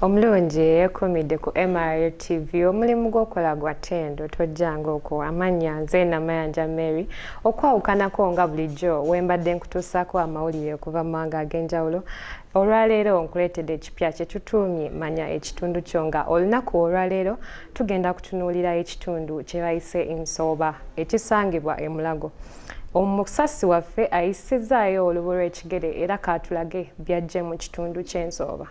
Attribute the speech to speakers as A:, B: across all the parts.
A: omulungi eyekumidde ku mra tv omulimu gwokola gwa tendo tojjanga okwo amannya nze namayanja mary okwawukanako nga bulijjo wembadde nkutuusako amawulire okuva mu mawanga ag'enjawulo olwaleero nkuleetedde ekipya kyetutuumye manya ekitundu kyo nga olunaku olwaleero tugenda kutunuulira ekitundu kyebayise ensooba ekisangibwa emulago e omusasi waffe ayisizaayo olubu lw'ekigere era kaatulage byajje mu kitundu ky'ensooba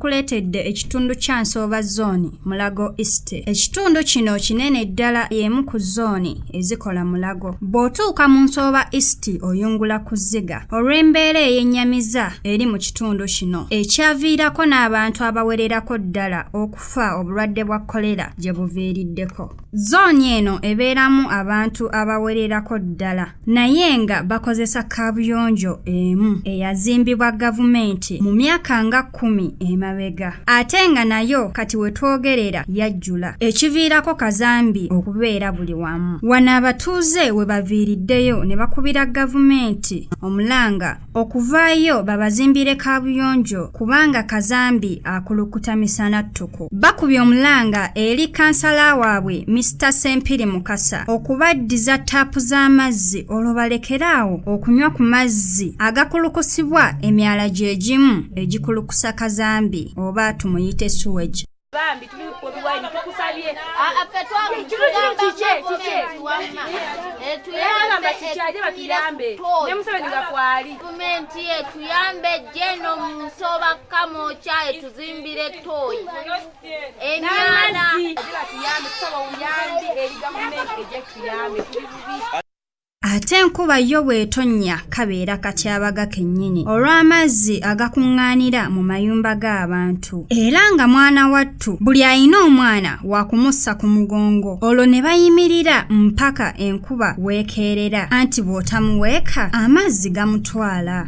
B: kuleetedde ekitundu kya nsooba zooni mulago east ekitundu kino kinene ddala y'emu ku zooni ezikola mulago bw'otuuka mu nsooba east oyungula ku zziga olw'embeera eyennyamiza eri mu kitundu kino ekyaviirako n'abantu abawererako ddala okufa obulwadde bwa kolera gye buviiriddeko zooni eno ebeeramu abantu abawererako ddala naye nga bakozesa kaabuyonjo emu eyazimbibwa gavumenti mu myaka nga kkumi emabega ate nga nayo kati we twogerera yajjula ekiviirako kazambi okubeera buli wamu wano abatuuze we baviiriddeyo ne bakubira gavumenti omulanga okuvaayo babazimbire kaabuyonjo kubanga kazambi akulukuta misana ttuku bakubye omulanga eri kansala waabwe Mister Sempiri Mukasa okubaddiza taapu z'amazzi olwo balekere awo okunywa ku mazzi agakulukusibwa emyala gye gimu egikulukusa kazambi oba tumuyite suwegi bambi tuli
C: kubiwaini tukusabye etuyamba kikyaje batuyambe ne museveni nga kwali gavumenti etuyambe jeno munsoba kamoca etuzimbire toyi emyana
B: ate enkuba yo bw'etonnya kabeera katyabaga kennyini olw'amazzi agakuŋŋaanira mu mayumba g'abantu era nga mwana wattu buli alina omwana wa kumussa ku mugongo olwo ne bayimirira mpaka enkuba weekeerera anti bw'otamuweeka amazzi gamutwala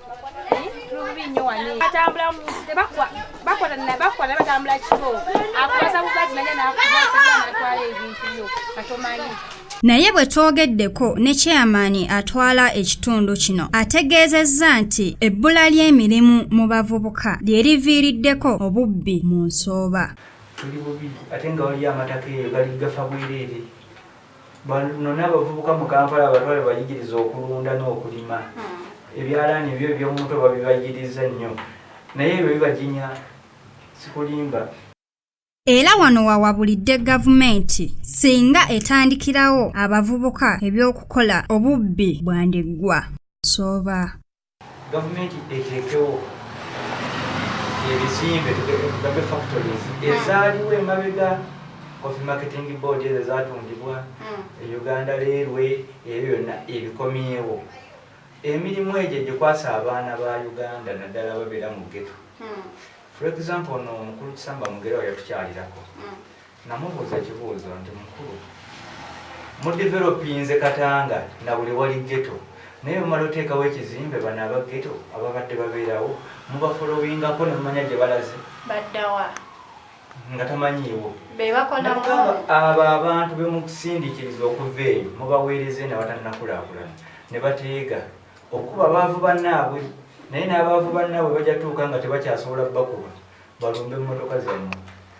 C: naye bwe
B: twogeddeko ne kyeyamaani atwala ekitundu kino ategeezezza nti ebbula ly'emirimu mu bavubuka lye liviiriddeko obubbi mu nsooba tuli bubi
D: ate nga waliyo amataka eyo gali gafa bwereere Bano n'abavubuka mu Kampala abatwale bayigiriza okulunda n'okulima hmm. ebyalaani ebyo eby'omumutwe babibayigiriza nnyo naye ebyo bibajinya sikulimba
B: era wano wawabulidde gavumenti singa etandikirawo abavubuka eby'okukola obubbi bwandiggwa sooba gavumenti
D: eteekewo ebizimbe tugambe factories hmm. ezaaliwo emabega coffee marketing board ezo ezatundibwa hmm. e uganda leerwe ebyo byonna ebikomyewo emirimu egyo gyekwasa abaana ba uganda naddala babeera mu geto hmm. for example no omukulu kisamba mugerawo yatukyalirako namubuuza ekibuuzo nti mukulu mudevelopinze katanga na buli wali geto naye bumala oteekawo ekizimbe bano abageto ababadde babeerawo mubafolowingako nemumanya gye balaze baddawa nga tamanyiiwo
C: abo abantu
D: bemukusindikiriza okuva eyo mubaweereze nabatanakulakulana ne bateega okukuba baavu bannaabwe naye n'abaavu bannaabwe bajatuuka nga tebakyasobola bakuba balumbe mmotoka zammwe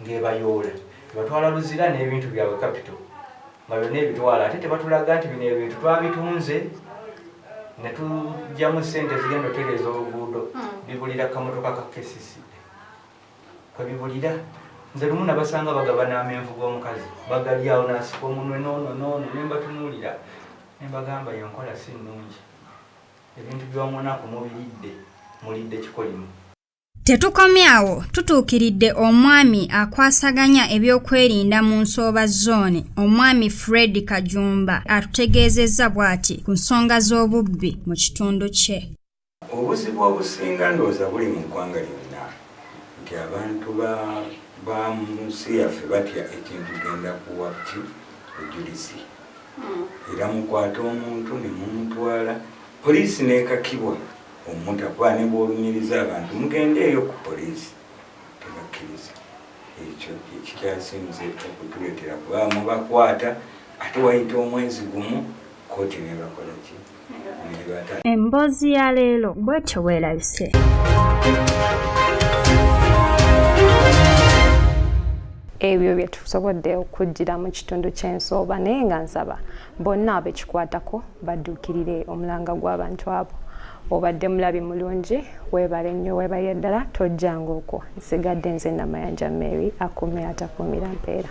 D: ng'ebayoola ebatwala Luzira n'ebintu byabwe kapito nga byonna ebitwala ate tebatulaga nti bino ebintu twabitunze ne tujjamu ssente zigenda otereeza oluguudo hmm. bibulira kamotoka ka KCC kwe bibulira nze lumu nabasanga bagaba n'amenvu g'omukazi bagalyawo nasika omunwe noono noono ne mbatunuulira ne mbagamba yenkola si nnungi ebintu by'omunaku mubiridde mulidde kikolimu Tetukomye
B: awo tutuukiridde omwami akwasaganya ebyokwerinda mu nsooba zooni omwami Fred Kajumba atutegeezezza bw'ati ku nsonga z'obubbi mu kitundu kye. Obuzibu
E: obusinga ndowooza buli mu ggwanga lyonna nti abantu ba mu nsi yaffe batya ekintu genda kuwa ki bujulizi hmm. era mukwata omuntu ne mumutwala poliisi n'ekakibwa Omuta kuba ne bw'olumiriza abantu mugendeeyo ku poliisi tebakkiriza. Ekyo kye kikyasinze okutuleetera kuba mubakwata ate wayita omwezi gumu kkooti nebakola ki nebata. Emboozi ya
B: leero bwetyo bwerabise.
A: ebyo bye tusobodde okujjira mu kitundu ky'ensooba naye nga nsaba bonna abekikwatako badduukirire omulanga gw'abantu abo obadde mulabi mulungi weebale nnyo weebalire ddala tojjanga okwo nsigadde nze namayanja mary akuumira atakuumira mpeera